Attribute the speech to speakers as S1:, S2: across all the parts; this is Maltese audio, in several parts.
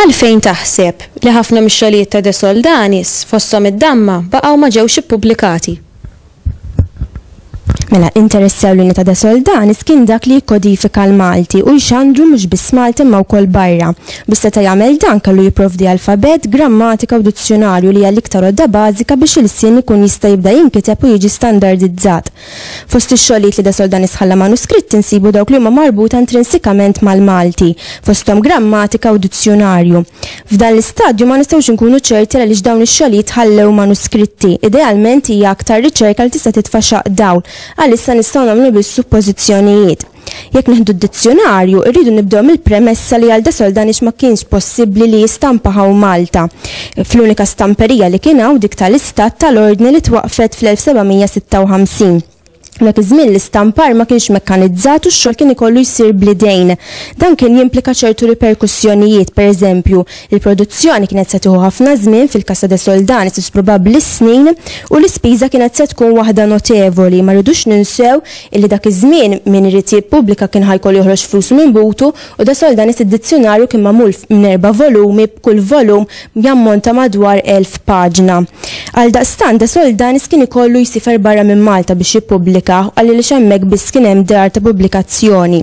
S1: Għalfejn taħseb li ħafna mix-xogħlijiet ta' De Soldanis, fosthom id-damma, baqgħu ma ġewx ippubblikati?
S2: Mela, interess ewlieni ta' De Soldanis kien dak li jikkodifika l-Malti u jxandru mhux biss Malta imma wkoll barra. Biex seta' jagħmel dan kellu jipprovdi alfabett, grammatika u dizzjunarju li hija l-iktar għodda bażika biex ilsien ikun jista' jibda jinkiteb u jiġi standardizzat. Fost ix-xogħlijiet li De Soldanis ħalla manuskritti nsibu dawk li huma marbuta intrinsikament mal-Malti, fosthom grammatika u dizzjunarju. F'dan l-istadju ma nistgħux inkunu ċerti għaliex dawn ix-xogħlijiet ħallew manuskritti. Idealment hija aktar riċerka li tista' titfa' xaqq dawl. Għalissa nistgħu nagħmlu biss suppożizzjonijiet. Jekk nieħdu d-dizzjunarju, irridu nibdew mill-premessa li għal De Soldanix ma kienx possibbli li jistampa hawn Malta, fl-unika stamperija li kien hawn, dik tal-Istat tal-Ordni li twaqqfet fl-1756. Dak iż-żmien l-istampar ma kienx mekkanizzat u x-xogħol kien ikollu jsir bl-idejn. Dan kien jimplika ċertu riperkussjonijiet, pereżempju, il-produzzjoni kienet se tieħu ħafna żmien, fil-Casa de Soldanis is probabbli s-snin, u l-ispiża kienet se tkun waħda notevoli. Ma rridux ninsew illi dak iż-żmien min irid jippubblika kien ħa jkollu joħroġ flusu minn butu U De Soldanis id-dizzjunarju kien magħmul minn erba' volumi b'kull volum jammonta madwar elf paġna. Għaldaqstant De Soldanis kien ikollu jsifer barra minn Malta biex jippublika għaliliex hemmhekk biss kien hemm dar ta' publikazzjoni.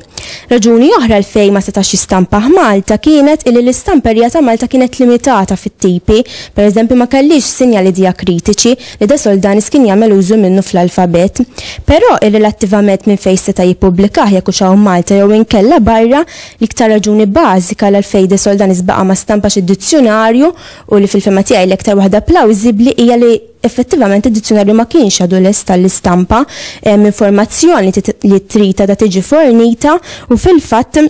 S2: Raġuni oħra għalfejn ma setax jistampa hMalta kienet illi l-istamperija ta' Malta kienet limitata fit-tipi, pereżempju ma kellhiex sinjali dijakritiċi, li De Soldanis kien jagħmel użu minnu fl-alfabet, però irrelattivament minn fejn seta' jippubblikah jekk hux hawn Malta jew inkella barra, l-iktar raġuni bażika għalgħalfejn De Soldanis baqa' ma stampax id-dizzjunarju u li fil-fehma tiegħi l-iktar waħda plawżibbli hija li effettivament id-dizzjunarju ma kienx għadu lest għall-istampa, hemm informazzjoni li trid għadha tiġi fornita u fil-fatt,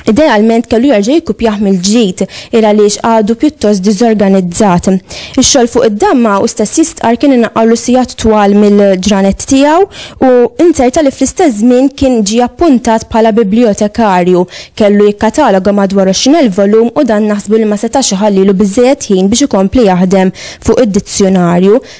S2: Idealment kellu jerġa' jikkupjah mill-ġdid, il għaliex għadu pjuttost diżorganizzat. Ix-xogħol fuq id-damma u stess jistqarr kien inaqqarlu sigħat twal mill-ġranet tiegħu u inzerta li fl-istess żmien kien ġie appuntat bħala bibliotekarju, kellu jikkataloga madwar għoxrin elf volum u dan naħsbu li ma setax iħallilu biżżejjed ħin biex ikompli jaħdem fuq id-dizzjunarju